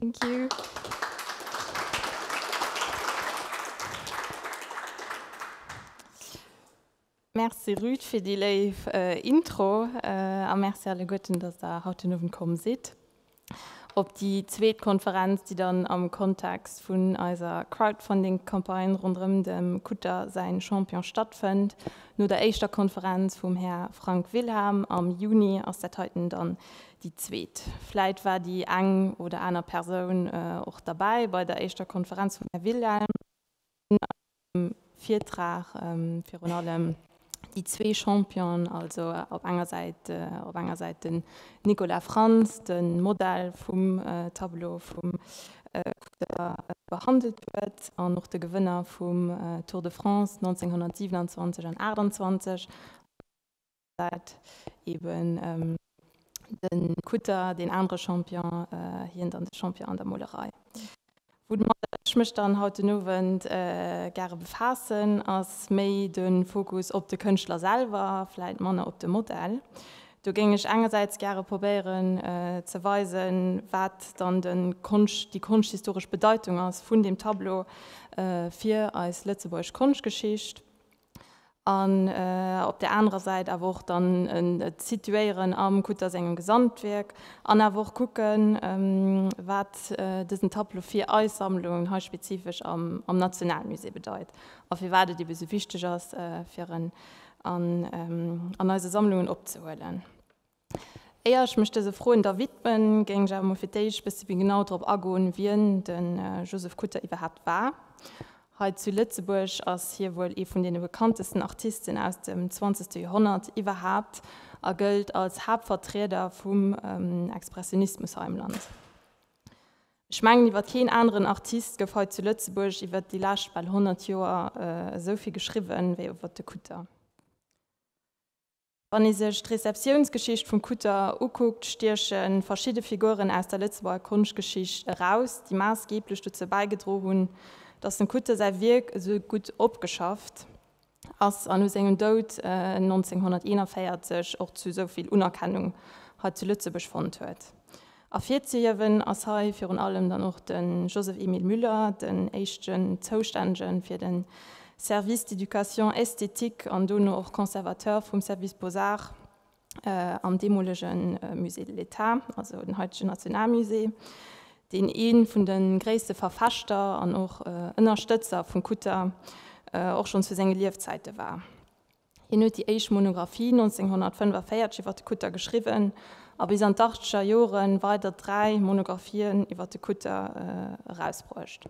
Thank you. Merci Ruth fir déi léif Intro a Merci alleguerten, dass der haut den Owend komm sidd op déi zweet Konferenz, déi dann am Kontext vun eiser Crowdfunding-Campagne ronderëm dem Kutter säin Champion stattfënnt. No der éischter Konferenz vum Här Frank Wilhelm am Juni ass dat heiten dann Déi zweet, vläit war déi eng oder aner Persoun och derbäi bei der éischter Konferenz vum Här Wilhelm, an a sengem Virtrag virun allem déi zwee Championen, also op enger Säit, op enger Säit den Nicolas Frantz, de Modell vum Tableau vum Kutter, behandelt huet, an och de Gewënner vum Tour de France 1927 an 1928, an och de Gewënner vum dat eben de Kutter deen anere Champion, hien dann de Champion an der Molerei. Woudomat ech mech dann haut den Owend gare befaassen, ass méi de Fokus op de Kënschtler selwer, vläit manner op de Modell. Do géing ech engersäits gare probéieren ze weisen, wat dann de Konscht, déi konschthistoresch Bedeitung ass vun deem Tableau fir eis lëtzebuergesch Konschtgeschicht. an op där anerer Säit awer och dann et situéieren am Kutter sengem Gesamtwierk an awer och kucken, wat dësen Tableau fir eis Sammlung hei spezifesch am Nationalmusée bedeit a firwat et ebe sou wichteg ass, fir en an eise Sammlungen opzehuelen. Éier ech mech dëse Froen da widmen, géing ech awer mol fir d'éischt bësse méi genau drop agoen, wien de Joseph Kutter iwwerhaapt war. Hei zu Lëtzebuerg ass hie wuel ee vun deene bekanntesten Artisten aus dem zwanzegste Joerhonnert iwwerhaapt a gëllt als Haaptvertrieder vum Expressionismus hei am Land. Ech mengen, iwwer keen aneren Artist gouf hei zu Lëtzebuerg iwwer déi lescht bal honnert Joer esou vill geschriwwen, wéi iwwer de Kutter. Wann ee sech d'Rezeptiounsgeschicht vum Kutter ukuckt, stieche verschidde Figuren aus der Lëtzebuerger Konschtgeschicht eraus, déi maassgeeblech dozou bäigedro hunn, datt dem Kutter säi Wierk esou gutt opgeschafft ass an no sengem Doud 1941 och zu esou vill Unerkennung hei zu Lëtzebuerg fonnt huet. Ervirzehiewen ass hei virun allem dann och de Joseph-Emile Müller, den éischten Zoustännege fir de Service d'éducation esthétique an dono och Conservateur vum Service Beaux-Arts am deemolege Musée de l'État, also den haitegen Nationalmusée, deen ee vun de gréisste Verfechter an och Ënnerstëtzer vum Kutter och schonn zu senge Liefzäite war. Hien huet déi éischt Monographie 1945 iwwer de Kutter geschriwwen a bis an d'Achtzeger Jore weider dräi Monographien iwwer de Kutter erausbruecht.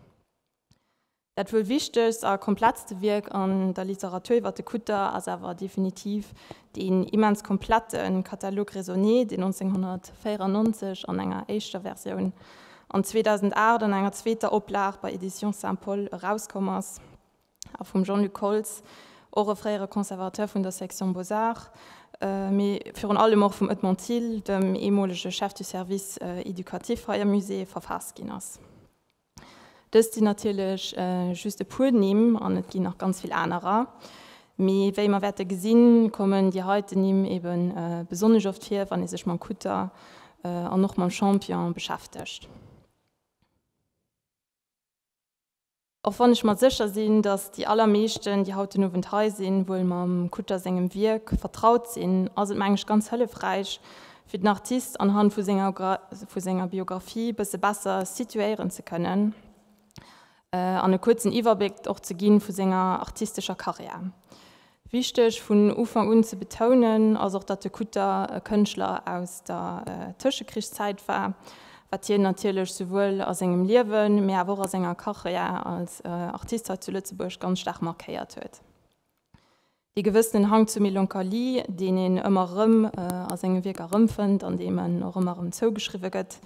Dat wuel wichtegst a komplettste Wierk an der Literatur iwwer de Kutter ass awer definitiv deen immens komplette Catalogue raisonné, deen 1994 an enger éischter Versioun an 2008 an enger zweeter Oplag bei Éditions Saint-Paul erauskomm ass. a vum Jean-Luc Holtz, och e fréiere Conservateur vun der Section Beaux-Arts, mee virun allem och vum Edmond Thill, dem eemolege Chef du Service éducatif hei am Musée, verfaasst ginn ass. Dëst sinn natierlech just e puer Nimm an et ginn nach ganz vill anerer, mee wéi mer wäerte gesinn, kommen déi heiten Nimm ebe besonnesch oft vir, wann ee sech mam Kutter an och mam Champion beschäftegt. Och wann ech mer sécher sinn, datt déi allermeeschten, déi haut den Owend hei sinn, wuel mam Kutter sengem Wierk vertraut sinn, ass et meng ech ganz hëllefräich, fir den Artist anhand vu senger Biographie bësse besser situéieren ze kënnen an e kuerzen Iwwerbléck och ze gi vu senger artistescher Karriär. Wichteg vun Ufank un ze betounen ass och, datt de Kutter e Kënschtler aus der Tëschekrichszäit war, wat hien natierlech souwuel a sengem Liewen, mee awer och a senger Karriär als Artist hei zu Lëtzebuerg ganz staark markéiert huet. Dee gewëssenen Hang zur Melancholie, deen een ëmmer erëm a senge Wierker erëmfënnt an deem en och ëmmer erëm zougeschriwwe gëtt,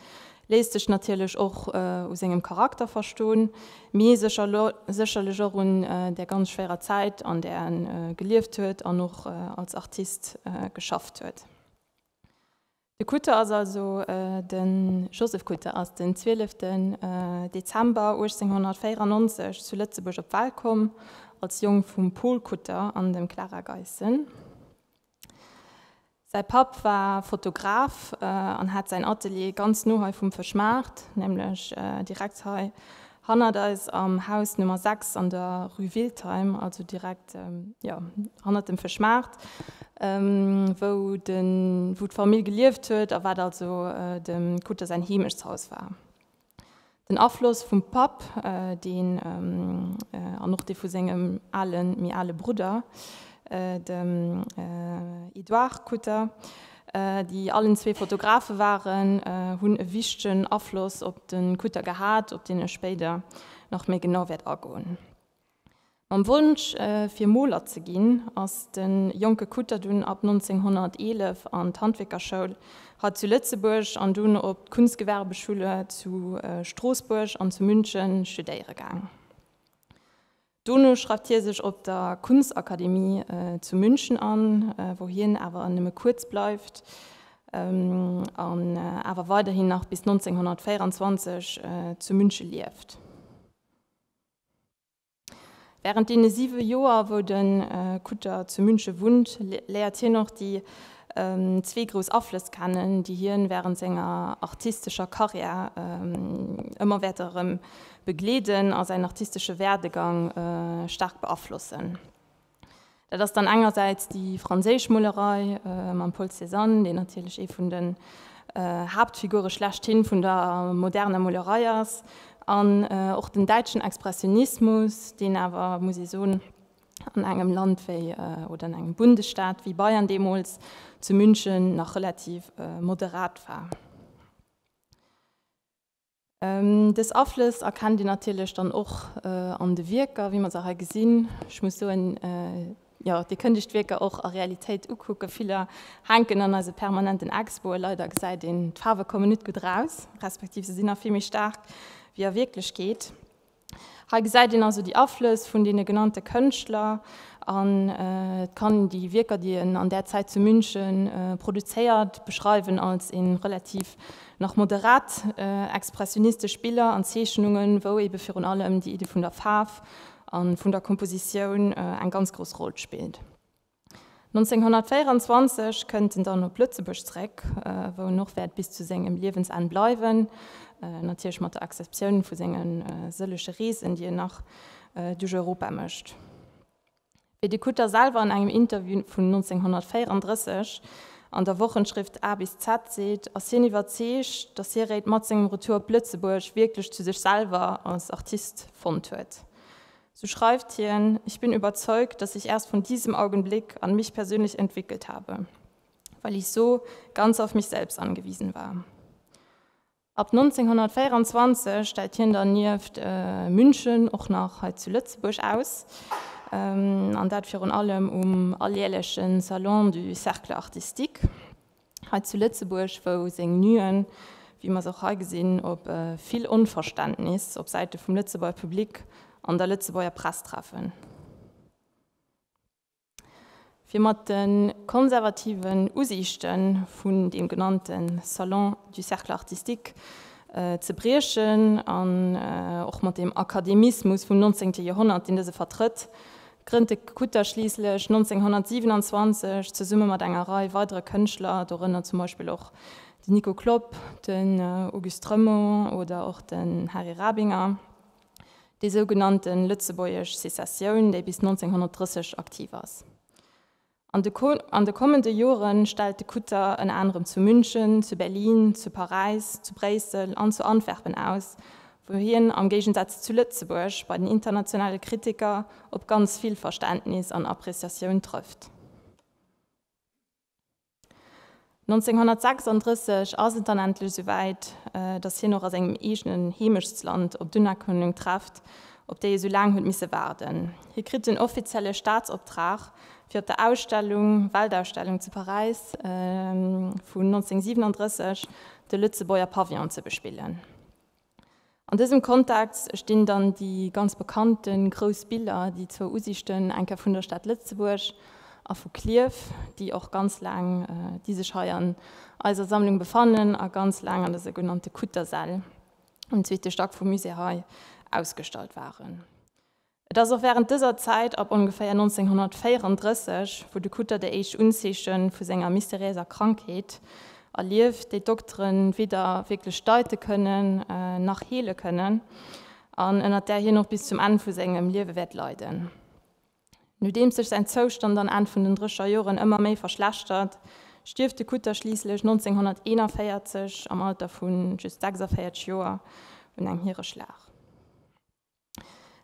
Léisst sech natierlech och u sengem Charakter verston, mee sécherlech och un där ganz schwéirer Zäit an där en gelieft huet an och als Artist geschafft huet. De Kutter ass also, de Joseph Kutter ass den 12 Dezember 1894 zu Lëtzebuerg op d'Welt komm, als Jong vum Paul Kutter an dem Clara Geissen. Säi Papp war Fotograf an hat säin Atelier ganz no hei vum Fëschmaart, nämlech direkt hei hannert eis am Haus Nummer 6 an der Rue Wiltheim, also direkt jo hannert dem Fëschmaart, wou d'Famill gelieft huet a wat also dem Kutter säin Heemechtshaus war. Den Afloss vum Papp, deen, an och dee vu sengem ale, méi ale Brudder, dem Edouard Kutter, déi allen zwee Fotografe waren, hunn e wichtegen Afloss op de Kutter gehat, op deen ech spéider nach méi genau wäert agoen. Mam Wonsch, fir Moler ze ginn, ass de jonke Kutter dunn ab 1911 an d'Handwierkerschoul hei zu Lëtzebuerg an dunn op d'Kunstgewerbeschule zu Stroossbuerg an zu München studéiere gaang. Dono schreift hie sech op der Kunstakademie zu München an, wou hien awer nëmme kuerz bleift an awer weiderhin nach bis 1924 zu Münche lieft. Während deene siwe Joer, wou de Kutter zu Münche wunnt, léiert hien och déi zwee grouss Aflëss kennen, déi hien während senger artistescher Karriär ëmmer wäerte erëm begleeden a säin artistesche Werdegang staark beaflossen. Dat ass dann engersäits déi franséisch Molerei mam Paul Cézanne, deen natierlech ee vun den Haaptfigure schlechthin vun der moderner Molerei ass, an och den däitschen Expressionismus, deen awer, muss ee soen, an engem Land wéi, oder an engem Bundesstaat wéi Bayern deemools, zu München, nach relativ moderat war. Dës Aflëss erkennt een natierlech dann och an de Wierker, wéi mer se hei gesinn. Ech muss soen, jo, Dir kënnt Iech d'Wierker och a Realitéit ukucken. Viller hänken an eise permanenten Expoe. Leider gesäit een, d'Faarwe kommen net gutt eraus, respektiv se sinn nach vill méi staark wéi a Wierklechkeet. Hei gesäit een also déi Aflëss vun deene genannte Kënschtler an et kann een déi Wierker, déi en an där Zäit zu München produzéiert, beschreiwen als ee relativ nach moderat expressionistesch Biller an Zeechnungen, wou ebe virun allem déi Iddi vun der Faarf a vun der Kompositioun eng ganz grouss Roll spillt. 1924 kënnt en dann op Lëtzebuerg zeréck, wou en och wäert bis zu sengem Liewensenn bleiwen, natierlech mat der Exceptioun vu senge sëllege Reesen, déi en nach duerch Europa mécht. Wéi de Kutter selwer an engem Interview vun 1934 an der Wochenschrift A bis Z seet, ass hien iwwerzeegt, datt hie réit mat sengem Retour op Lëtzebuerg wierklech zu sech selwer als Artist fonnt huet. Sou schreift hien, Ich bin überzeugt, dass ich erst von diesem Augenblick an mich persönlich entwickelt habe, well ich so ganz auf mich selbst angewiesen war. Ab 1924 stellt hien dann nieft München och nach hei zu Lëtzebuerg aus, an dat virun allem um alljärlechen Salon du Cercle artistique. hei zu Lëtzebuerg, wou seng Nuen, wéi mer se och hei gesinn, op vill Onverständnis op Säite vum Lëtzebuerger Public an der Lëtzebuerger Press treffen. Fir mat de konservativen Usiichte vun deem genannte Salon du Cercle Artistique ze briechen an och mat deem Akademismus vum 19. Joerhonnert, deen dëse vertrëtt, Grënnt de Kutter schliisslech 1927 zesumme mat enger Rei weidere Kënschtler, dorënner zum Beispill och den Nico Klopp, den Auguste Remo oder och den Hary Rabinger, déi sougenannte lëtzebuergesch Secessioun, déi bis 1930 aktiv ass. An de kommende Jore stellt de Kutter ënner anerem zu München, zu Berlin, zu Paräis, zu Bréissel an zu Antwerpen aus, wou hien am Géigensaz zu Lëtzebuerg bei den internationale Kritiker op ganz vill Verständnis an Appreciatioun trëfft. 1936 ass et dann endlech esouwäit, datt hien och a sengem eegenen Heemechtsland op d'Unerkennung trefft, op déi e sou laang huet misse waarden. Hie kritt den offizielle Staatsoptrag, fir op der Ausstellung, Weltausstellung zu Paräis vun 1937, de Lëtzebuerger Pavillon ze bespillen. An dësem Kontext stinn dann déi ganz bekannte grouss Biller, déi zwou Usiichten, eng Kéier vun der Stad Lëtzebuerg a vu Klierf, déi och ganz laang, déi sech hei an eiser Sammlung befannen a ganz laang an der sougenannte Kuttersäll um zweete Stack vum Musée hei ausgestallt waren. Et ass och wärend dëser Zäit, ab ongeféier 1934, wou de Kutter déi éischt Unzeeche vu senger mysteriéiser Krankheet erlieft, déi d'Doktere weder wierklech deite kënnen, nach heele kënnen, an ënner där hien och bis zum Enn vu sengem Liewe wäert leiden. Nodeems sech säin Zoustand dann Enn vun den Drécherjoren ëmmer méi verschlechtert, stierft de Kutter schliisslech 1941 am Alter vu just 46 Joer un engem Hiereschlag.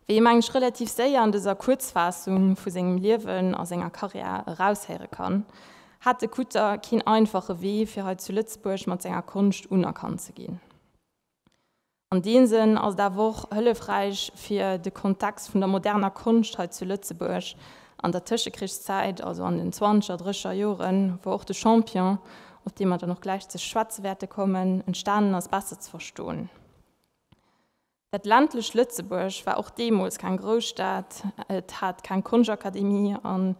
Wéi ee mengen ech relativ séier an dëser Kuerzfaassung vu sengem Liewen a senger Carrière eraushéiere kann, hat de Kutter keen einfache Wee fir hei zu Lëtzebuerg mat senger Konscht unerkannt ze ginn. An deem Sënn ass et awer och hëllefräich fir de Kontext vun der moderner Konscht hei zu Lëtzebuerg an der Tëschekrichszäit, also an den zwanzeger, drécher Joren, wou och de Champion, op dee mer dann och gläich ze schwätze wäerte kommen, entstanen ass, besser ze verstoen. Dat ländlecht Lëtzebuerg war och deemools keng Grousstad, et hat keng Konschakademie a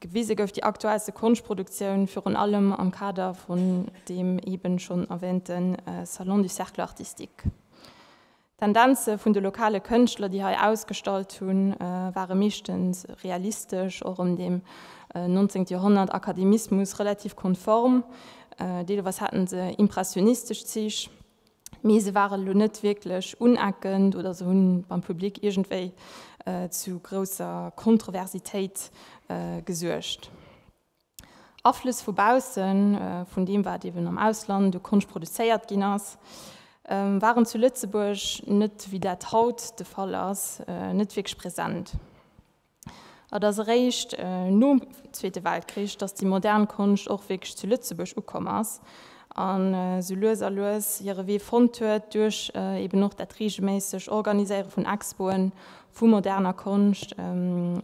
gewise gouf déi aktuellste Konschproduktioun virun allem am Kader vun deem eeben schonn erwäänte Salon du Cercle Artistique. D'Tendenze vun de lokale Kënschtler, déi hei ausgestallt hunn, ware meeschtens realistesch, och ëm deem nonzéngt Joerhonnert Akademismus relativ konform, deelweis hate se impressionistesch Zich. mee se waren elo net wierklech uneckend oder se hunn beim Public iergendwéi zu grousser Kontroversitéit gesuergt. Aflëss vu baussen, vun deem wat eben am Ausland u Konscht produzéiert ginn ass, waren zu Lëtzebuerg net, wéi dat haut de Fall ass, net wierklech present. Et ass eréischt nom Zweete Weltkrich, datt déi modern Konscht och wierklech zu Lëtzebuerg ukomm ass an esou lues a lues hire Wee fonnt huet duerch eben och dat reegelméisseg Organiséiere vun Expoe vu moderner Konscht,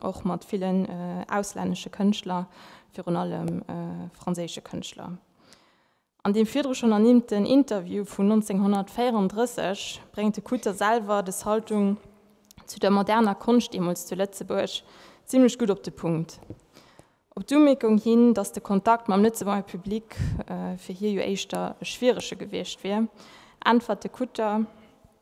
och mat villen auslännesche Kënschtler, virun allem franséische Kënschtler. An deem virdru schonn ernimmten Interview vun 1934 bréngt de Kutter selwer des Haltung zu der moderner Konscht deemools zu Lëtzebuerg zimmlech gutt op de Punkt. Op d'Umierkung hin, datt de Kontakt mam Lëtzebuenger Public fir hie jo éischter e schwierege gewiescht wier, äntwert de Kutter,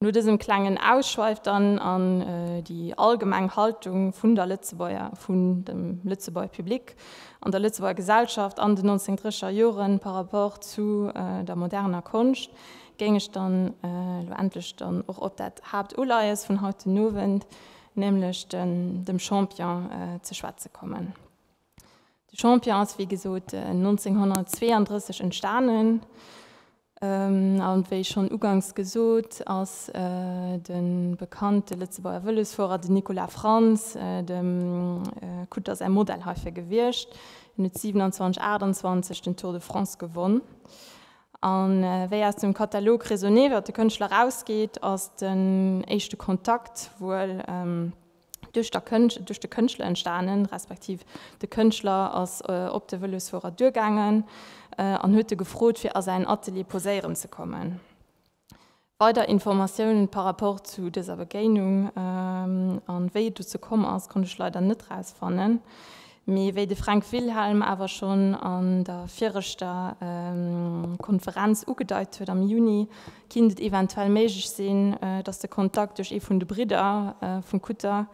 No dësem klengen Ausschweif dann an déi allgemeng Haltung vun der Lëtzebuerger, vun dem Lëtzebuerger Public an der Lëtzebuerger Gesellschaft an den 1930er Jore par rapport zu der moderner Konscht, géing ech dann elo endlech dann och op dat Haaptuleies vun haut den Owend, nämlech dem Champion, ze schwätze kommen. De Champion ass wéi gesot 1932 entstanen a wéi schonn uganks gesot ass de bekannte Lëtzebuerger Vëlosfuerer, den Nicolas Frantz, dem Kutter säi Modell heifir gewiescht. Hien huet 2728 den Tour de France gewonn a wéi aus dem Katalog Raisonner iwwer de Kënschtler erausgeet, ass den éischte Kontakt wuel, duerch der Kënscht, duerch de Kënschtler entstanen, respektiv de Kënschtler ass op de Vëlosfuerer duergaangen an huet e gefrot fir a säin Atelier poséieren ze kommen. Weider Informatiounen par rapport zu dëser Begéinung an wéi et dozou komm ass konnt ech leider net rausfannen. Mee wéi de Fränk Wilhelm awer schonn an der viregter Konferenz ugedeit huet, am Juni kinnt et eventuell méiglech sinn, datt de Kontakt duerch ee vun de Bridder vum Kutter,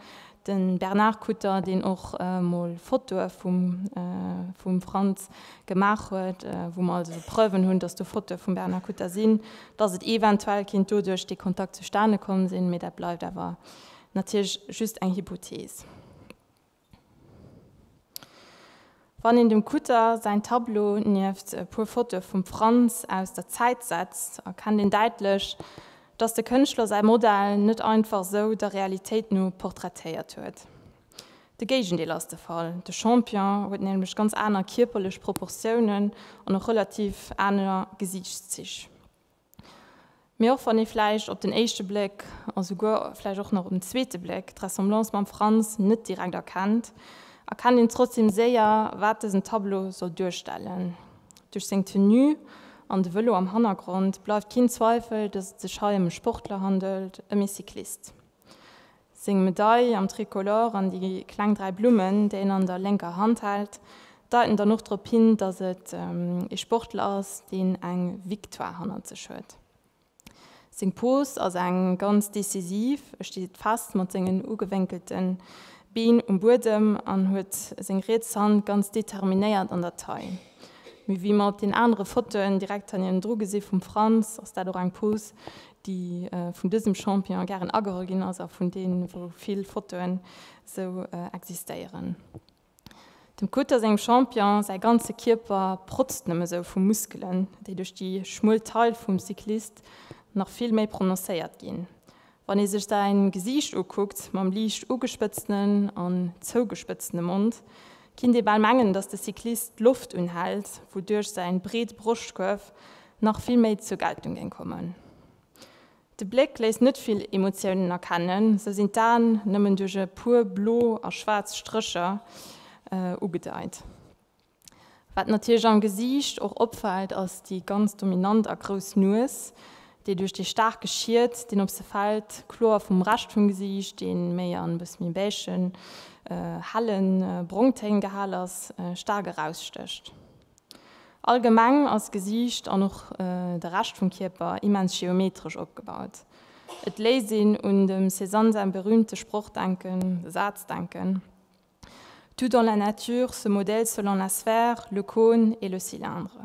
de Bernard Kutter, deen och mol Fotoe vum Frantz gemaach huet, wou mer also Preuven hunn, datt do Fotoe vum Bernard Kutter sinn, datt et eventuell kinnt doduerch dee Kontakt zustane komm sinn. Mee dat bleift awer natierlech just eng Hypothees. Wann een dem Kutter säin Tableau nieft e puer Fotoe vum Frantz aus der Zäit setzt, erkennt een däitlech, datt de Kënschtler säi Modell net einfach esou der Realitéit no portraitéiert huet. De Géigendeel ass de Fall, de Champion huet nämlech ganz aner kierperlech Proportiounen an och relativ aner Gesiichtszich. Mee och wann ee vläicht op den éischte Bléck, a souguer vläicht och nach op den zweete Bléck, d'Ressemblance mam Frans net direkt erkennt, erkennt een trotzdeem séier, wat dësen Tableau soll duerstellen. Duerch seng Tenue an de Vëlo am Hannergrond bleift keen Zweifel, dass et sech hei ëm e Sportler handelt, ëm ee Cyclist. Seng Medail am Tricolore an déi kleng dräi Blummen, déi en an der lénker Hand hält, deiten dann och drop hin, datt et ee Sportler ass, deen eng Victoire hannert sech huet. Seng Pose ass eng ganz decisiv, e steet fest mat sengen ugewénkelte Been um Buedem an huet seng riets Hand ganz determinéiert an der Taille. Mee wéi mer op den anere Fotoen direkt hannendru gesi vum Frantz, ass dat och eng Pose, déi vun dësem Champion gären ageholl ginn ass a vun deem wou vill Fotoen sou existéieren. Dem Cutter sengem Champion säi ganze Kierper protzt nëmme sou vu Muskelen, déi duerch déi schmuel Taille vum Cyclist nach vill méi prononcéiert ginn. Wann ee sech säi Gesiicht ukuckt, mam liicht ugespëtztenen an zougespëtztene Mond, kinnt ee bal mengen, datt de Cyclist d'Loft unhält, wouduerch säi breet Broschtkuerf nach vill méi zur Geltung géing kommen. De Bléck léisst net vill Emotiounen erkennen, sou sinn d'Aen nëmmen duerch e puer blo a schwaarz Strécher ugedeit. Wat natierlech am Gesiicht och opfält ass déi ganz dominant a grouss Nues, déi duerch dee staarke Schied, deen op se fält, kloer vum Rescht vum Gesiicht, dee méi an e bësse méi beigen, helle Brongtéin gehal ass, staark erausstécht. Allgemeng ass d'Gesiicht an och de Rescht vum Kierper immens geometresch opgebaut. Et léisst een un dem Cézanne säi berüümte Sproch denken, de Saz denken, Tout dans la nature se modèle selon la sphère, le cône et le cylindre.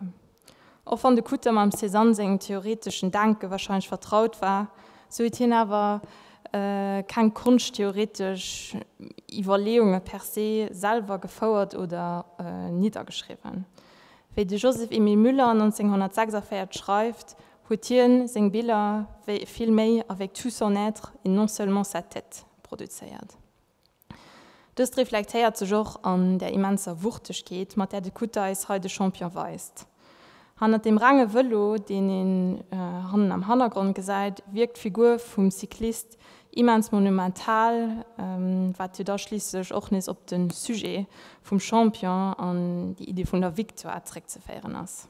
Och wann de Kutter mam Cézanne sengem theoreteschen Denke warscheinlech vertraut war, sou huet hien awer Keng konschttheoretesch Iwwerleeunge per se, selwer gefouert oder niddergeschriwwen. Wéi de Joseph Emile Müller 1946 schreift, huet hien seng Biller vill méi avec tout son être et non seulement sa tête produzéiert. Dëst reflektéiert sech och an der immenser Wuchtegkeet, mat där de Kutter eis hei de Champion weist. Hannert dem renge Vëlo, deen een hannen am Hannergrond gesäit, wierkt d'Figur vum Cyclist immens monumental, wat jo da schliisslech och nees op de Sujet vum Champion an déi Iddi vun der Victoire zréckzeféieren ass.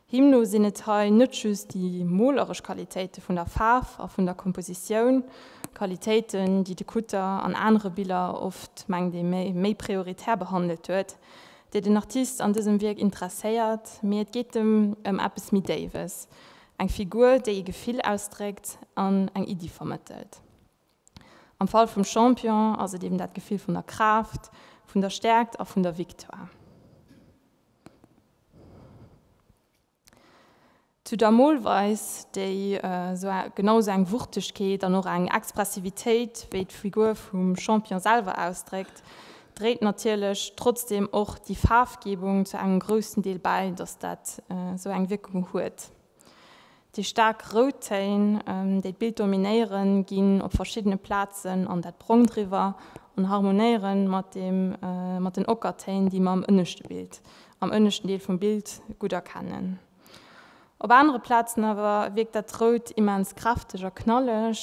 Him no sinn et hei net just déi moleresch Qualitéite vun der Faarf a vun der Kompositioun, Qualitéiten, déi de Kutter an anere Biller oft, mengt ee méi, méi prioritär behandelt huet, déi den Artist an dësem Wierk interesséiert, mee et geet em ëm eppes méi Déiwes, eng Figur, déi ee Gefill ausdréckt an eng Iddi vermëttelt. Am Fall vum Champion ass et eben dat Gefill vun der Kraaft, vun der Stäerkt a vun der Victoire. Zu der Molweis, déi genau esou eng Wuchtegkeet an och eng Expressivitéit wéi d'Figur vum Champion selwer ausdréckt, dréit natierlech trotzdeem och déi Faarfgebung zu engem groussen Deel bäi, datt dat esou eng Wierkung huet. Déi staark rout Téin, déi d'Bild dominéieren, ginn op verschiddene Plazen an dat Brongt eriwwer an harmonéiere mat deem mat den Ockertéin, déi mer am ënneschte Bild, am ënneschten Deel vum Bild, gutt erkennen. Op anere Plazen awer wierkt dat Rout immens kräfteg a knalleg,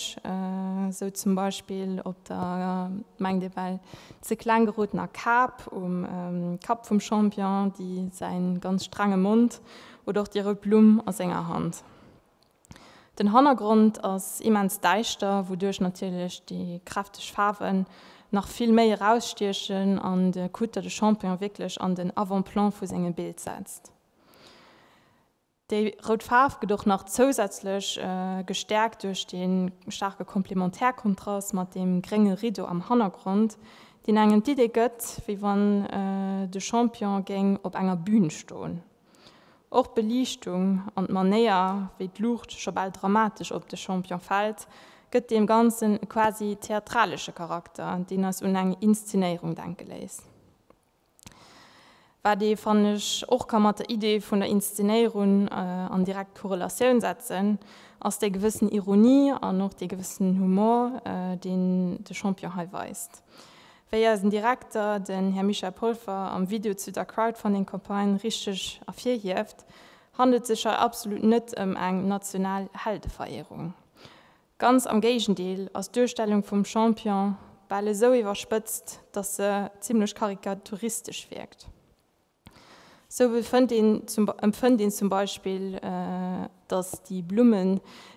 sou zum Beispill op der, mengt ee well ze kleng gerotener, Kap um Kapp vum Champion, déi säi ganz strenge Mond Oder och déi rout Blumm a senger Hand. Den Hannergrond ass immens däischter, wouduerch natierlech déi kräfteg Faarwen nach vill méi erausstiechen an de Kutter de Champignon wierklech an den Avant-plan vu sengem Bild setzt. Déi rout Faarf gëtt och nach zousätzlech gestäerkt duerch dee staarke Komplementärkontrast mat deem grénge Rideau am Hannergrond, deen engem d'Idee gëtt, wéi wann de Champignon géing op enger Bün stoen. Och d'Beliichtung an d'Manéier, wéi d'Luucht scho bal dramatesch op de Champion fält, gëtt deem Ganzen e quasi theatralesche Charakter, deen eis un eng Inszenéierung denke léisst. Wat ee, fannen ech, och ka mat der Idee vun der Inszenéierun an direkt Korrelatioun setzen, ass déi gewëssen Ironie an och dee gewëssenen Humor, deen de Champion hei weist. Wéi eisen Direkter, den Här Michel Polfer, am Video zu der Crowdfunding-Campagne richteg ervirhieft, handelt sech hei absolut net ëm eng national Heldeverehrung. Ganz am Géigendeel ass d'Duerstellung vum Champion bal esou iwwerspëtzt, datt se zimlech karikaturistesch wierkt. Sou empfënnt een zum Beispill, datt déi Blummen,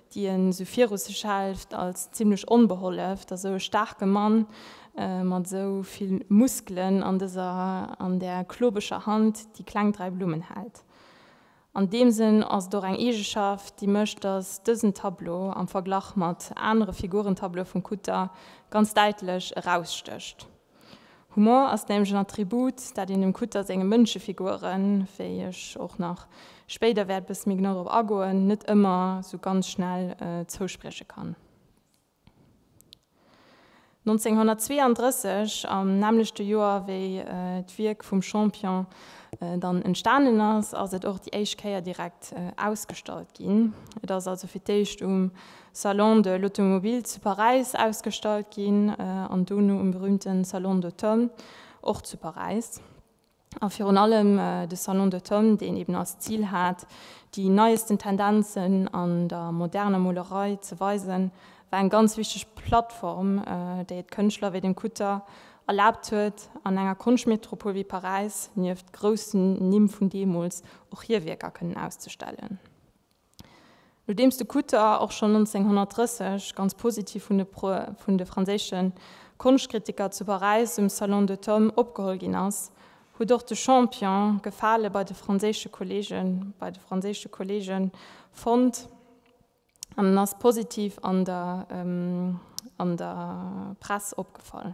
déi en esou viru sech hält, als zimlech onbeholleft a sou e staarke Mann mat esou vill Muskelen an dëser, an där klobeger Hand déi kleng dräi Blummen hält. An deem Sënn ass et och eng Eegeschaft, déi mécht, datt dësen Tableau am Verglach mat anere Figurentableaue vum Kutter ganz däitlech erausstécht. Humor ass nämlech en Attribut, dat een dem Kutter senge Mënschefiguren, wéi ech och nach spéider wäert e bësse méi genau drop agoen, net ëmmer esou ganz schnell zousprieche kann. 1932, am nämmlechte Joer wéi d'Wierk vum Champion dann entstanen ass, ass et och déi éischt Kéier direkt ausgestallt ginn. Et ass also fir d'éischt um Salon de l'Automobile zu Paräis ausgestallt ginn an dono um berüümte Salon d'automne och zu Paräis. A virun allem de Salon d'automne, deen eben als Zil hat, déi neiesten Tendenzen an der moderner Molerei ze weisen, war eng ganz wichteg Plattform, déi et Kënschtler wéi dem Kutter erlaabt huet, an enger Konschtmetropol wéi Paräis nieft groussen Nimm vun deemools och hir Wierker kënnen auszestellen. Nodeems de Kutter och schonn 1930 ganz positiv vun de franséische Konschtkritiker zu Paräis um Salon de Tom opgeholl ginn ass, huet och de Champion Gefale bei de franséische Kolleegen bei de franséische Kolleege fonnt an en ass positiv an der an der Press opgefall.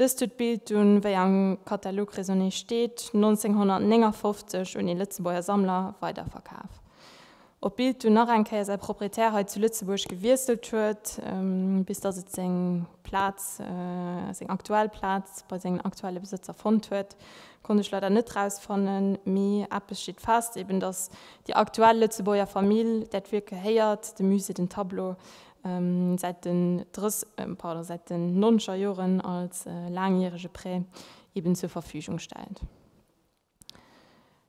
Dëst huet d'Bild dunn, wéi am Katalog Raisonner steet, 1959 un ee Lëtzebuerger Sammler weiderverkaf. Ob d'Bild dunn nach eng Kéier säi Proprietär hei zu Lëtzebuerg gewiesselt huet, bis datt et seng Plaz, seng aktuell Plaz bei sengen aktuelle Besëtzer fonnt huet, konnt ech leider net rausfannen. Mee eppes steet fest, eben datt déi aktuell Lëtzebuerger Famill dat Wierk gehéiert, de Musée den Tableau säit den drëss, pardon, säit den nonnescher Joren als laangjärege Prêt eben zur Verfügung stellt.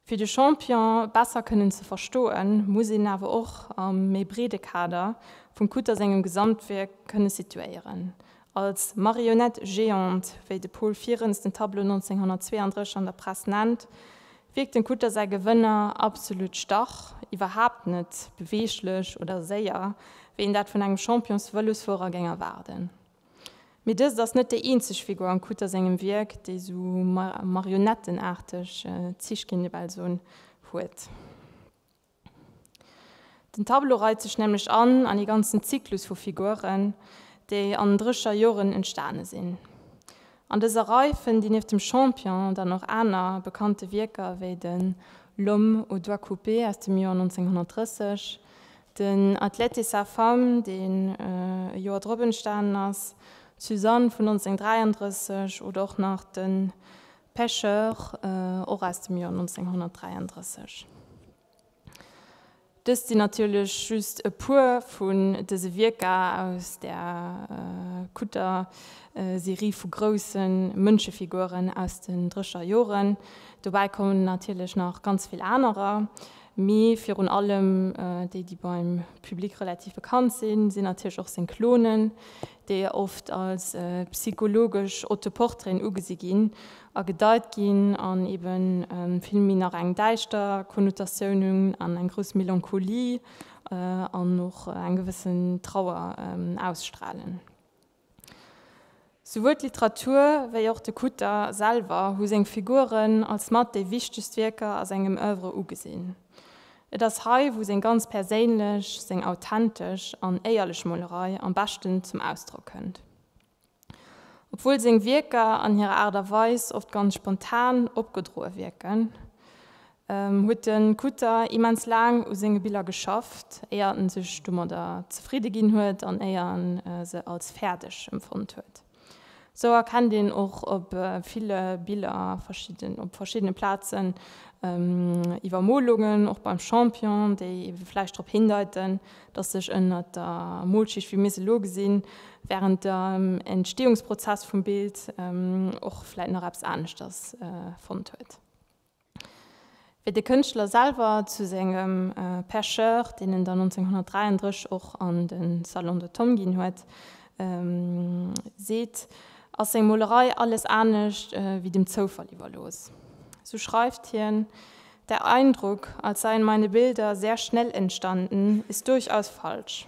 Fir de Champion besser kënnen ze verstoen, muss een awer och a méi breede Kader vum Kutter sengem Gesamtwierk kënne situéieren. Als Marionnette géante, wéi de Paul Vierens den Tableau 1932 an der Press nennt, Wierkt den Kutter säi Gewënner absolut stach, iwwerhaapt net beweeglech oder séier, wéi een dat vun engem Champions-Vëlosfuerer géing erwaarden. Mee dëst ass net déi eenzeg Figur am Kutter sengem Wierk, déi esou marionettenaarteg Zich, géing ee bal soen, huet. Den Tableau reit sech nämlech an an ee ganzen Zyklus vu Figuren, déi an den Drécher Joren entstane sinn. An dëser Rei fënnt Dir nieft dem Champion dann och aner bekannte Wierker wéi de L'homme aux doigts coupés aus dem Joer 1930, den Athlète et sa femme, deen e Joer drop entstanen ass, d'Suzanne vun 1933 oder och nach de Pecheur, och aus dem Joer 1933. Dëst sinn natierlech just e puer vun dëse Wierker aus der kutter Serie vu grousse Mënschefiguren aus den Drécher Joren. Dobäi kommen natierlech nach ganz vill anerer, mee virun allem déi, déi beim Public relativ bekannt sinn, sinn natierlech och seng Klonen, déi oft als psychologesch Autoportraiten ugesi ginn a gedeit ginn an ebe vill méi nach eng däischter Konnotatioun hunn an eng grouss Melancholie an och eng gewëssen Trauer ausstralen. Souwuel d'Literatur wéi och de Kutter selwer hu seng Figuren als mat déi wichtegst Wierker a sengem Oeuvre ugesinn. Et ass hei, wou seng ganz perséinlech, seng authentesch an éierlech Molerei am beschten zum Ausdrock kënnt. Obwuel seng Wierker an hirer Aart a Weis oft ganz spontan opgedroe wierken, huet de Kutter immens laang u senge Biller geschafft, éier en sech domadder zefridde ginn huet an éier en se als fäerdeg emfonnt huet. Sou erkennt een och op ville Biller verschidden, op verschiddene Plazen Iwwermolungen, och beim Champion, déi vläicht drop hindeiten, dass sech ënnert der Molschicht, wéi mir se elo gesinn, während dem Entstehungsprozess vum Bild och vläicht nach eppes aneschters fonnt huet. Wéi de Kënschtler selwer zu sengem Percheur, deen en dann 1933 och an de Salon de Tongue ginn huet, seet, ass seng Molerei alles anescht wéi dem Zoufall iwwerlooss. Sou schreift hien, Der Eindruck, als seien meine Bilder sehr schnell entstanden, ist durchaus falsch.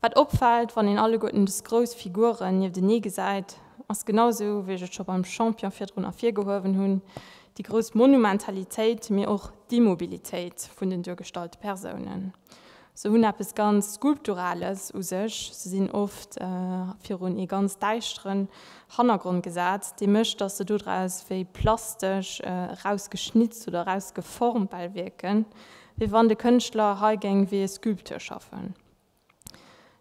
Wat opfällt, wann een alleguerten des grouss Figuren niewtenee gesäit, ass genau esou, wéi ech et scho beim Champion virdrun ervirgehuewen hunn, déi grouss Monumentalitéit, mee och d'Immobilitéit vun den duergestallte Persounen. Se hunn eppes ganz Skulpturales u sech, se sinn oft virun ee ganz däischteren Hannergrond gesat, dee mécht, datt se dodraus wéi plastesch erausgeschnitzt oder erausgeformt bal wierken, wéi wann de Kënschtler hei géing wéi ee Sculpteur schaffen.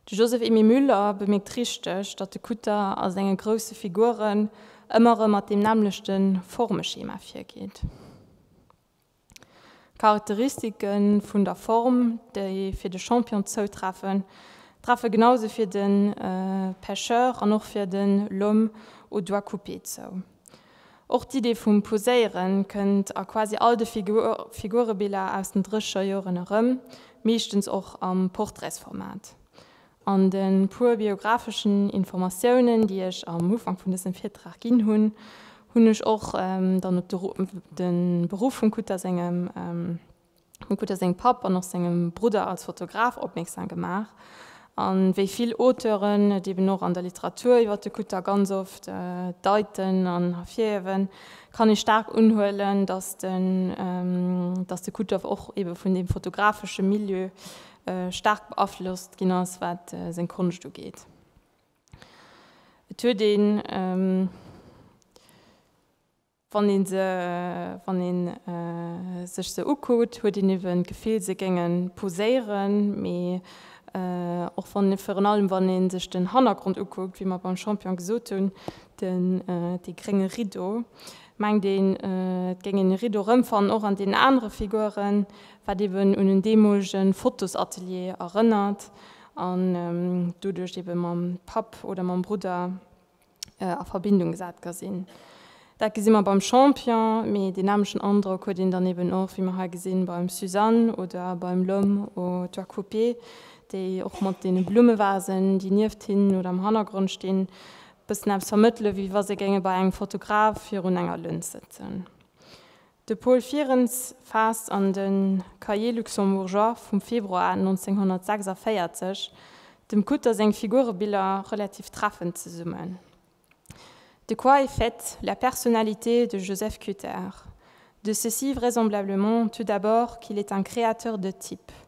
De Joseph Emile Müller bemierkt richteg, datt de Kutter a senge grousse Figuren ëmmer erëm mat deem nämmlechte Formeschema virgeet. D'Charakteristike vun der Form, déi fir de Champion zoutreffen, treffe genausou fir de Pecheur an och fir de L'homme aux doigts coupés zou. Och d'Idee vum Poséieren kënnt a quasi all de Figurebiller aus den drécheger Joren erëm, meeschtens och am Portraitsformat. An de puer biographeschen Informatiounen, déi ech am Ufank vun dësem Virtrag ginn hunn, hunn ech och dann op de Beruff vum Kutter sengem. Huet gutt op seng Papp an och sengem Brudder als Fotograf opmierksam gemaach. An wéi vill Auteuren et eben och an der Literatur iwwer de Kutter ganz oft deiten an ervirhiewen, kann ee staark unhuelen, datt den datt de Kutter och ebe vun deem fotografesche Milieu staark beaflosst ginn ass, wat seng Konscht ugeet. Et huet een. Wann ee se, wann ee sech se ukuckt, huet een iewen d'Gefill se géinge poséieren, mee och wann, virun allem wann ee sech den Hannergrond ukuckt, wéi mer beim Champion gesot hunn, den, dee grénge Rideau, mengt een et géing een e Rideau erëmfannen, och an deenen anere Figuren, wat iewen un en deemolege Fotosatelier erënnert an doduerch iewe mam Papp oder mam Brudder. a Verbindung gesat ka sinn. Dat gesi mer beim Champion, mee deen nämlechen Androck huet een dann eben och, wéi mer hei gesinn, beim Suzanne oder beim L'homme aux toits coupés, déi och mat deene Blummevasen, déi nieft hinnen oder am Hannergrond stinn, e bëssen eppes vermëttele wéi wa se géinge bei engem Fotograf virun enger Lëns sëtzen. De Paul Fierens faasst an de Cahiers luxembourgeois vum Februar 1946 dem Kutter seng Figurebiller relativ treffend zesummen, De quoi est faite la personnalité de Joseph Kutter? De ceci vraisemblablement tout d'abord qu'il est un créateur de types,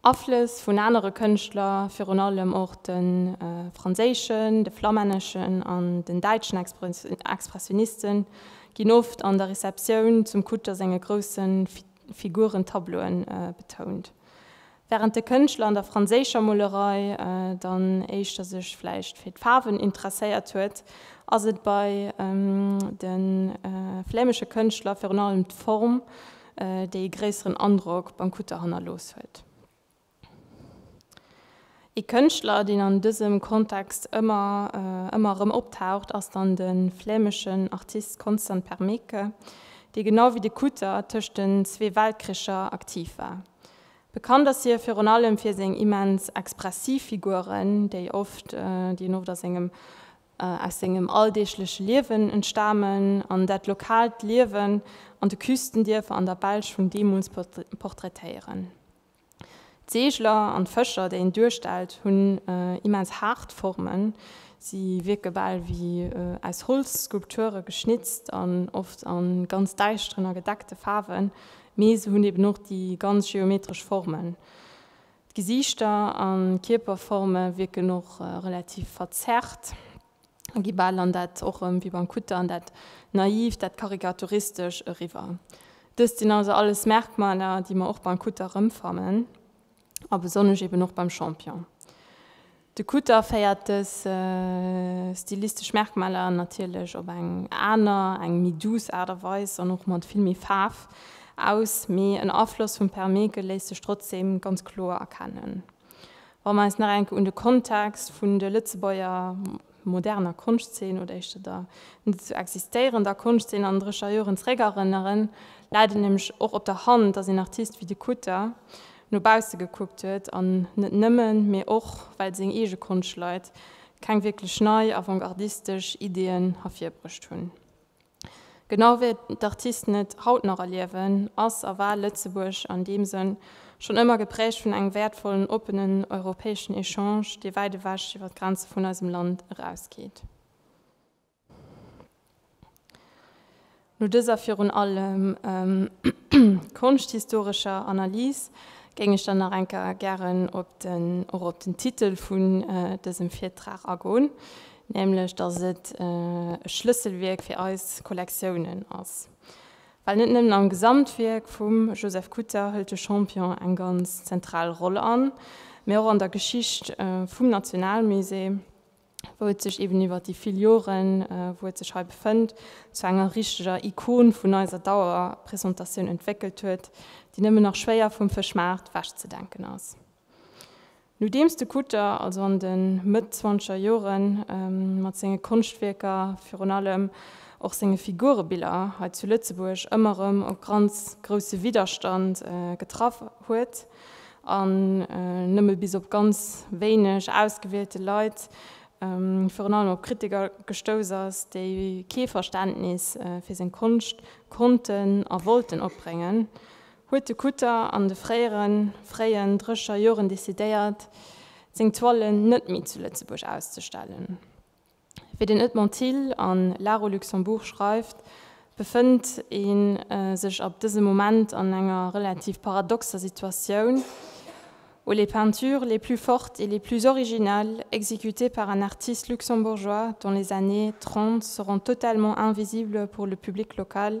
Aflëss vun anere Kënschtler, virun allem och de franséischen, de flammänneschen an den däitschen Expressioniste ginn oft an der Receptioun zum Kutter senge grousse Figurentableaue betount. Wärend de Kënschtler an der franséischer Molerei dann éischter sech vläicht fir d'Faarwen interesséiert huet, ass et bei de flämesche Kënschtler virun allem d'Form, déi ee gréisseren Androck beim Kutter hannerlooss huet. Ee Kënschtler, deen an dësem Kontext ëmmer ëmmer erëm optaucht, ass dann de flämeschen Artist Constant Permeke, dee genau wéi de Kutter tëscht den zwee Weltkricher aktiv war. Bekannt ass hie virun allem fir seng immens expressiv Figuren, déi en oft a sengem aus sengem alldeegleche Liewen entstamen an dat lokaalt Liewen an de Küstendierfer an der Belsch vun deemools portraitéieren. D'Seegler an d'Fëscher, déi en duerstellt, hunn immens haart Formen, si wierke bal wéi aus Holzskulpture geschnitzt an oft a ganz däischteren a gedeckte Faarwen, mee se hunn eben och déi ganz geometresch Formen. D'Gesiichter a Kierperforme wierken och relativ verzerrt a gi bal an dat, och erëm wéi beim Kutter, an dat Naiivt, dat Karikaturistischt eriwwer. Dëst sinn also alles Merkmaler, déi mer och beim Kutter erëmfannen a besonnesch eben och beim Champion. De Kutter féiert dës stilistesch Merkmaler natierlech op eng aner, eng méi douce Aart a Weis an och mat vill méi Faarf aus, mee en Afloss vum Permeeke léisst sech trotzdeem ganz kloer erkennen. Wa mer eis nach eng Kéier un de Kontext vun de Lëtzebuerger. moderner Konschtzeen oder éischter der net esou existéierender Konschtzeen an Drécher Joren zeréckerënneren, läit et nämlech och op der Hand, datt een Artist wéi de Kutter no bausse gekuckt huet an net nëmmen, mee och well seng eege Konschtleit keng wierklech nei, avantgardistesch Ideeën ervirbruecht hunn. Genau wéi d'Artisten et haut nach erliewen, ass a war Lëtzebuerg an deem Sënn schonn ëmmer geprägt vun engem wäertvollen, oppenen europäeschen Echange, dee wäit ewech iwwer d'Grenze vun eisem Land erausgeet. No dëser virun allem konschthistorescher Analys géing ech dann nach eng Kéier gären och op den Titel vun dësem Virtrag agoen, nämlech datt et e Schlësselwierk fir eis Kollektiounen ass, well net nëmmen am Gesamtwierk vum Joseph Kutter hëlt de Champion eng ganz zentral Roll an, mee och an der Geschicht vum Nationalmusée, wou et sech eben iwwer déi vill Joren, wou et sech hei befënnt, zu enger richteger Ikon vun eiser Dauerpresentatioun entwéckelt huet, déi nëmmen nach schwéier vum Fëschmaart wechzedenken ass. Nodeems de Kutter also an de Mëtt-zwanzeger Jore mat senge Konschtwierker, virun allem och senge Figurebiller, hei zu Lëtzebuerg ëmmer erëm op ganz grousse Widderstand getraff huet an nëmme bis op ganz wéineg ausgewielte Leit, virun allem op Kritiker, gestouss ass, déi kee Verständnis fir seng Konscht konnten a wollten opbréngen, huet de Kutter an de fréieren, fréien Drescher Joren decidéiert, seng Toilen net méi zu Lëtzebuerg auszestellen. Wéi den Edmond Thill a Laro Luxembourg schreift, befënnt ee sech ab dësem Moment an enger relativ paradoxer Situatioun, où les peintures les plus fortes et les plus originales exécutées par un artiste luxembourgeois dans les années 30 seront totalement invisibles pour le public local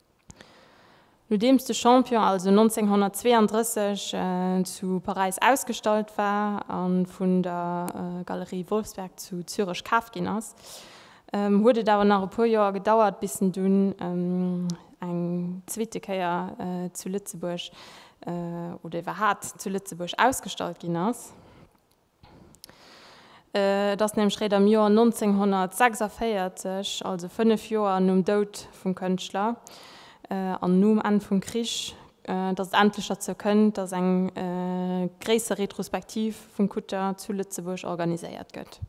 Nodeems de Champion also 1932 zu Paräis ausgestallt war a vun der Galerie Wolfsberg zu Zürech kaaft ginn ass, huet et awer nach e puer Joer gedauert, bis en dunn eng zweete Kéier zu Lëtzebuerg oder iwwerhaapt zu Lëtzebuerg ausgestallt ginn ass. Et ass nämlech réit am Joer 1946, also fënnef Joer nom Doud vum Kënschtler an nom Enn vum Krich, datt et endlech derzou kënnt, datt eng gréisser Retrospektiv vum Kutter zu Lëtzebuerg organiséiert gëtt.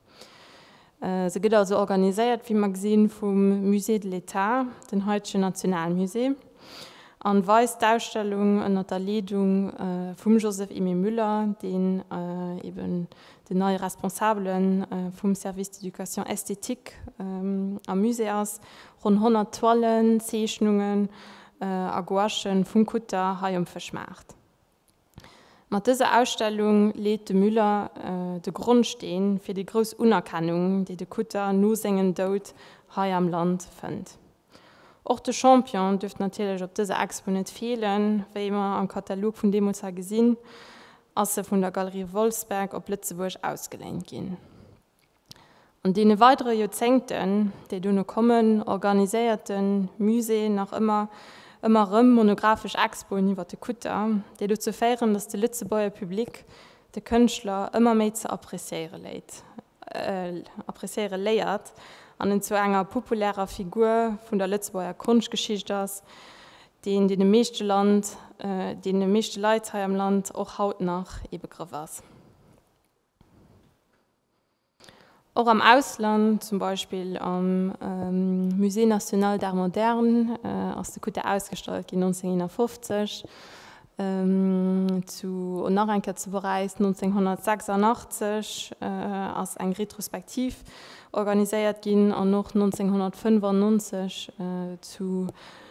Se gëtt also organiséiert, wéi mer gesinn, vum Musée de l'État, den haitegen Nationalmusée, an weist d'Ausstellung ënnert der Leedung vum Joseph Aimé Muller, deen eben den neie Responsabele vum Service d'éducation esthétique am Musée ass, ronn 100 Toilen, Zeechnungen a Gouachen vum Kutter hei um Fëschmaart. Mat dëser Ausstellung leet de Müller de Grondsteen fir déi grouss Unerkennung, déi de Kutter no sengem Doud hei am Land fënnt. Och de Champion duerft natierlech op dëser Expo net feelen. Wéi mer am Katalog vun deemools ha gesinn, ass e vun der Galerie Wolfsberg op Lëtzebuerg ausgeléint ginn. An deene weidere Joerzéngten, déi dono kommen, organiséiert de Musée nach ëmmer ëmmer erëm monographesch Expoen iwwer de Kutter, déi dozou féieren, datt de Lëtzebuerger Public de Kënschtler ëmmer méi ze appreciéiere léiert an en zu enger populärer Figur vun der Lëtzebuerger Konschtgeschicht ass, deen deene meeschte Land, deene meeschte Leit hei am Land och haut nach ee Begrëff ass. Och am Ausland, zum Beispill am Musée national d'art moderne, ass de Kutter ausgestallt ginn, 1951 zu an nach eng Kéier zu Paräis 1986 ass eng Retrospektiv organiséiert ginn an och 1995 zu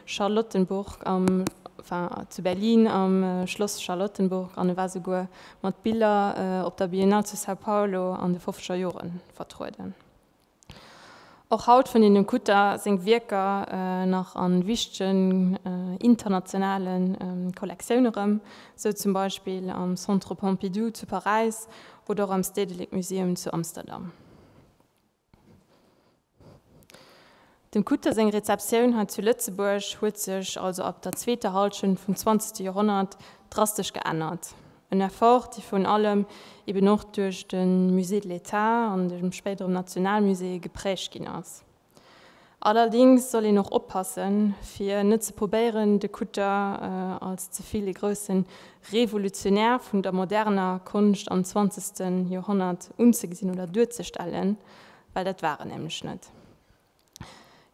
Charlottenburg am, enfin zu Berlin am Schloss Charlottenburg an e war souguer mat Biller op der Biennale zu São Paulo an de fofzeger Jore vertrueden. Och haut fënnt een dem Kutter seng Wierker nach a wichtegen internationale Kollektioune rëm, sou zum Beispill am Centre Pompidou zu Paräis oder och am Stedelijk Museum zu Amsterdam. Dem Kutte seng Rezeptioun hei zu Lëtzebuerg huet sech also ab der zweeter Hallschent vum zwanzegste Joerhonnert drastesch geännert, en Effort dee virun allem eben och duerch de Musée de l'État an de spéit erëm Nationalmuséeë geprägt ginn ass. Allerdings soll een och oppassen fir net ze probéieren de Kutter als ze vill e groussen Revolutionär vun der moderner Konscht am zwanzegsten Joerhonnert unzegesinn oder duerzestellen, well dat war en nämlech net.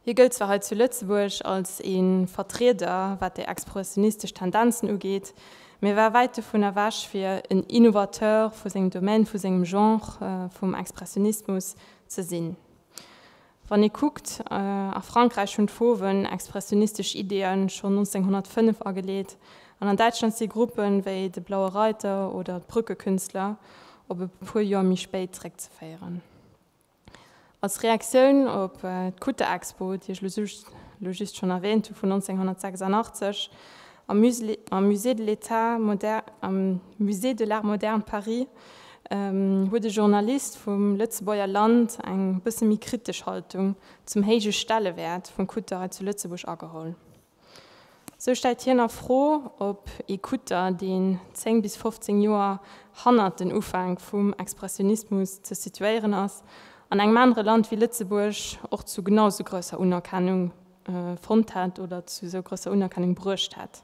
Hie gëllt zwar hei zu Lëtzebuerg als ee Vertrieder wat déi expressionistesch Tendenzen ugeet, mee war wäit dovun ewech fir en Innovateur vu sengem Domaine, vu sengem Genre, vum Expressionismus, ze sinn. Wann ee kuckt, a Frankräich hunn d'Fauven expressionistesch Ideeë schonn 1905 ageleet, an an Däitschland si Gruppe wéi de Blaue Reiter oder d'Brückekünstler op e puer Joer méi spéit zeréckzeféieren. Als Reaktioun op d'Kutter-Expo, déi ech elo just schonn erwäänt hu vun 1986 am Musée de l'État moderne, am Musée de l'Art moderne Paris, huet e Journalist vum Lëtzebuerger Land eng bësse méi kritesch Haltung zum héije Stellewäert vum Kutter hei zu Lëtzebuerg ageholl. Sou stellt hien a Fro, ob ee Kutter, deen 10 bis 15 Joer hannert den Ufänk vum Expressionismus ze situéieren ass, an engem anere Land wéi Lëtzebuerg och zu genau sou grousser Unerkennung fonnt hätt oder zu sou grousser Unerkennung bruecht hätt.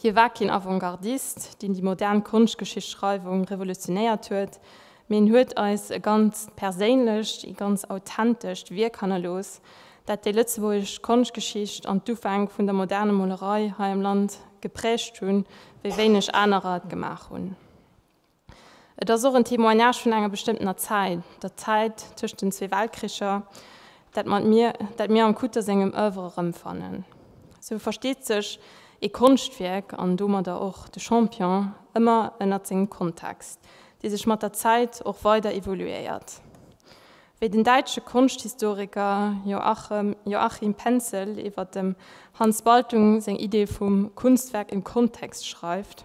Hie war keen Avantgardist, deen déi modern Konschtgeschichtsschreiwung revolutionéiert huet, mee en huet eis e ganzt perséinlecht, ee ganz authentescht Wierk hannerlooss, dat déi lëtzebuergesch Konschtgeschicht an d'Ufäng vun der moderner Molerei hei am Land gepräägt hunn, wéi wéineg anerer et gemaach hunn. Et ass och en Témoignage vun enger bestëmmtener Zäit, der Zäit tëscht den zwee Weltkricher, dat mat mir, dat mir am Kutter sengem Oeuvre erëmfannen. Sou versteet sech ee Konschtwierk, an domadder och de Champion, ëmmer ënnert sengem Kontext, dee sech mat der Zäit och weider evoluéiert. Wéi den däitsche Konschthistoriker Joachim Penzel iwwer dem Hans Baltung seng Idee vum Kunstwerk im Kontext schreift,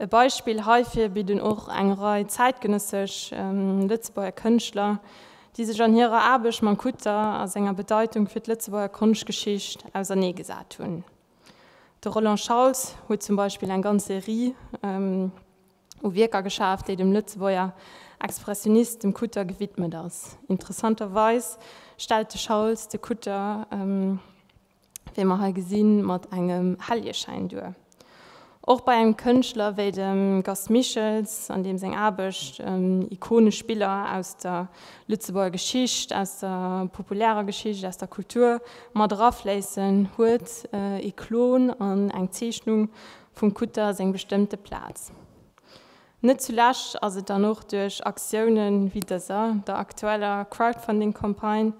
E Beispill heifir bidden och eng Rei zäitgenëssesch Lëtzebuerger Kënschtler, déi sech an hirer Aarbecht mam Kutter a senger Bedeitung fir d'Lëtzebuerger Konschtgeschicht ausernee gesat hunn. De Roland Schauls huet zum Beispill eng ganz Serie u Wierker geschaf, déi dem Lëtzebuerger Expressionist, dem Kutter, gewidmet ass. Interessanterweis stellt de Schauls de Kutter. wéi mer hei gesinn, mat engem Helljeschäin duer. Och bei engem Kënschtler wéi dem Gast Michels, an deem seng Aarbecht ikonesch Biller aus der Lëtzebuerger Geschicht, aus der populärer Geschicht, aus der Kultur mat erafléissen, huet ee Klon an eng Zeechnung vum Kutter seng bestëmmte Plaz. Net zulescht ass et dann och duerch Aktiounen wéi dëser, der aktueller Crowdfunding-Campagne,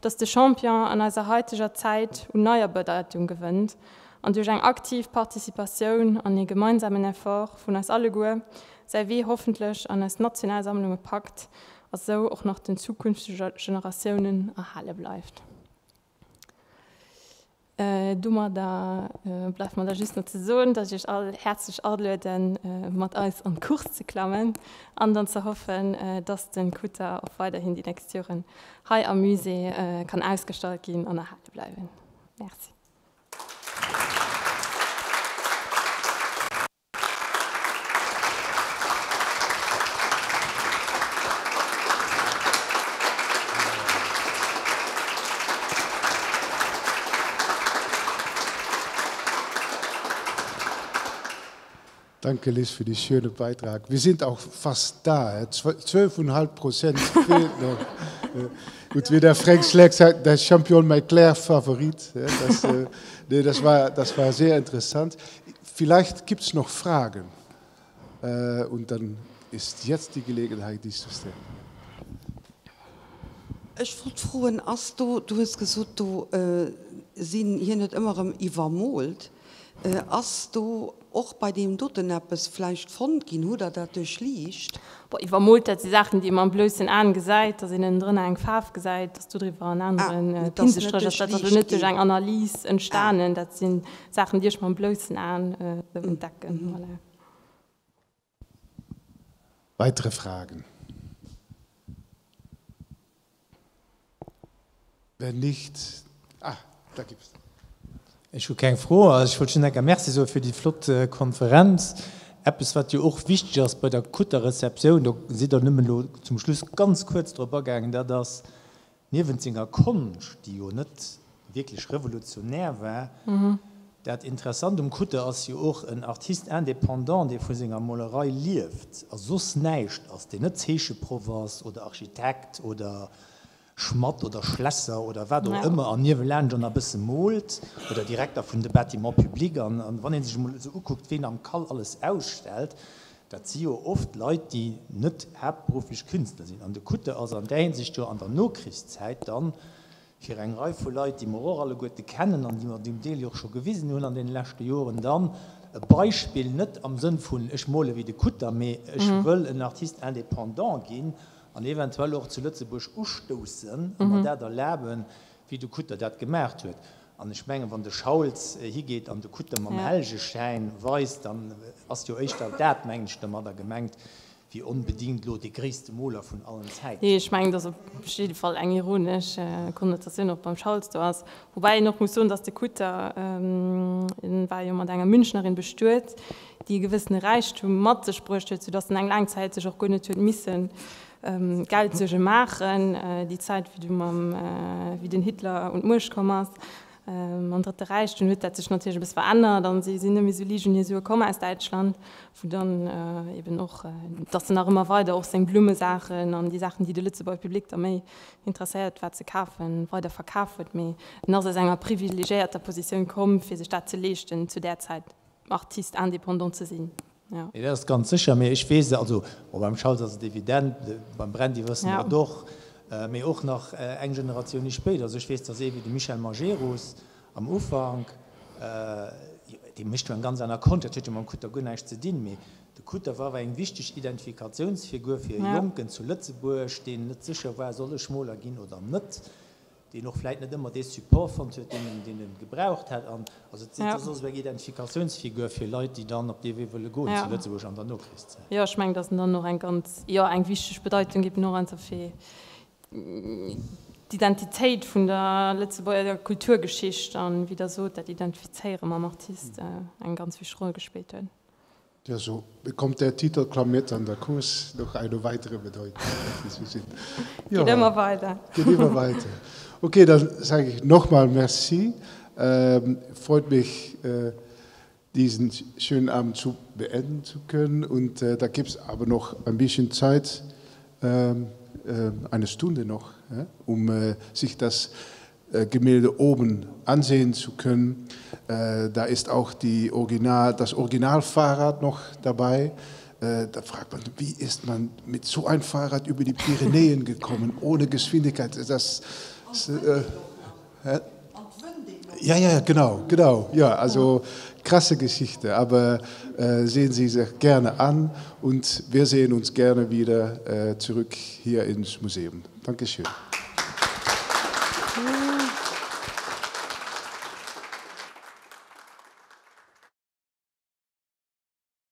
dass de Champion an eiser heiteger Zäit u neier Bedeitung gewënnt an duerch eng aktiv Participatioun an ee gemeinsamen Effort vun eis alleguer säi Wee hoffentlech an eis national Sammlunge packt a sou och nach den zukünftege Generatiounen erhale bleift. Domadder bleift mer da just nach ze soen, dass ech Iech all häerzlech alueden, mat eis an d'Course ze klammen an dann ze hoffen, dass de Kutter och weiderhin déi nächst Joren hei am Musée kann ausgestallt ginn an erhale bleiwen. Merci. Danke Liz fir dee schöne Beitrag. Wir sind auch fast da, 12,5 Prozent fehlt noch. Gut, wie der Frank Schleck sagt, der Champion, mein Claire Favorit. Das, äh, nee, das, war, das war sehr interessant. Vielleicht gibt es noch Fragen und dann ist jetzt die Gelegenheit, dies zu stellen. Ech wollt froen, ass do, du hues gesot, do sinn, hien huet ëmmer erëm iwwermoolt, ass do och bei deem doten eppes vläicht fonnt ginn? Hutt Der dat duerchliicht? Bon, iwwermoolt, dat si Saachen, déi ee mam bloussen Aen gesäit, dass een ënnendrënner eng Faarf gesäit, dass dodriwwer en aneren Pinselstréch ass. Dat ass elo net duerch eng Analys entstanen. Dat sinn. Saachen, déi ech mam bloussen Aen entdecken, voilà. Weitere Fragen? Wenn nicht, ah, da gibt es. Ech hu keng Fro. Ech wollt just eng Kéier Merci soe fir déi flott Konferenz. Eppes, wat jo och wichteg ass bei der gutter Receptioun, do sidd Der nëmmen elo zum Schluss ganz kuerz drop agaangen, dat ass, Niewent senger Konscht, déi jo net wierklech revolutionär war, dat Interessant um Kutter ass jo och en Artiste indépendant, dee vu senger Molerei lieft a soss näischt ass, deen net Zeecheproff ass oder Architekt oder Schmatt oder Schlässer oder wat och ëmmer an niewelaanscht an e bësse moolt oder Direkter vun de Bâtiments publics. An wann ee sech emol esou ukuckt, ween am CAL alles ausstellt, Dat si jo oft Leit, déi net haaptberufflech Künstler sinn. An de Kutter ass an där Hinsicht jo an der Nokrichszäit dann fir eng Rei vu Leit, déi mer och alleguerte kennen an déi mer zum Deel jo och scho gewisen hunn an deene leschte Joren, dann e Beispill, net am Sënn vun ech mole wéi de Kutter, mee ech wëll en Artiste indépendant ginn an eventuell och zu Lëtzebuerg ustoussen a mer dat erlaben, wéi de Kutter dat gemaach huet. An ech mengen, wann de Schauls higeet an de Kutte mam Heljeschäin weist, dann ass jo éischter dat, mengen ech, domadder gemengt, wéi onbedingt elo dee gréisste Moler vun allen Zäiten. Nee, ech mengen, et ass op jidde Fall eng ironesch Konnotatioun och beim Schauls do ass. Woubäi een och muss soen, datt de Kutte, en war jo mat enger Münchnerin bestuet, déi e gewëssene Räichtum mat sech bruecht huet, soudatt en eng laang Zäit sech och guer net huet missen Geld Suerge maachen, déi Zäit wéi du mam wéi den Hitler un d'Muecht komm ass mam Drëtte Räich, dunn huet dat sech natierlech e bëss verännert an si sinn nëmme sou liicht un hir Sue komm aus Däitschland, wou dann eben och datt en nach ëmmer weider och seng Blummesaachen an déi Saachen déi de Lëtzebuerger Public da méi interesséiert war ze kafen, weider verkaf huet. Mee en ass aus enger privilegéierter Positioun komm fir sech dat ze leeschten zu där Zäit Artist indépendant ze sinn. Jo. Nee, dat ass ganz sécher. Mee ech weess, also bon, beim Charles ass et evident, beim Brandy wëssen mer et och, mee och nach eng Generatioun méi spéit. Also ech weess, dass ee wéi de Michel Majerus am Ufank, dee mécht jo eng ganz aner Konsch, dat huet jo mam Kutter guer näischt ze dinn, mee de Kutter war awer eng wichteg Identifikatiounsfigur fir e Jonken zu Lëtzebuerg, deen net sécher war, soll ech Moler ginn oder net? deen och vläit net ëmmer dee Support fonnt huet, deen e gebraucht hätt, an also et ass soss eng Identifikatiounsfigur fir Leit, déi dann op dee Wee wëlle goen zu Lëtzebuerg an der Nokrichszäit. Jo, ech mengen, datt en dann och eng ganz, jo, eng wichteg Bedeitung géif en och einfach fir d'Identitéit vun der Lëtzebuerger Kulturgeschicht an, wéi Der sot, dat Identifizéiere mam Artist, eng ganz wichteg Roll gespillt huet. Jo, sou kommt der Titel Klamyrt an der Course nach eng weitere Bedeutung. Geet emmer weider. Geet emmer weider. Ok, dann sage ich nochmal Merci. Freut mich, diesen schönen Abend zu beenden zu können und da gibt es aber noch ein bisschen Zeit, eine Stunde noch, um sich das Gemälde oben ansehen zu können. Da ist auch die Original, das Originalfahrrad noch dabei. Da fragt man, wie ist man mit so einem Fahrrad über die Pyrenäen gekommen, ohne Geschwindigkeit? Das, äh, Ja, ja, genau, genau. Ja, also krasse Geschichte, aber äh, sehen Sie sich gerne an und wir sehen uns gerne wieder äh, zurück hier ins Museum. Dankeschön.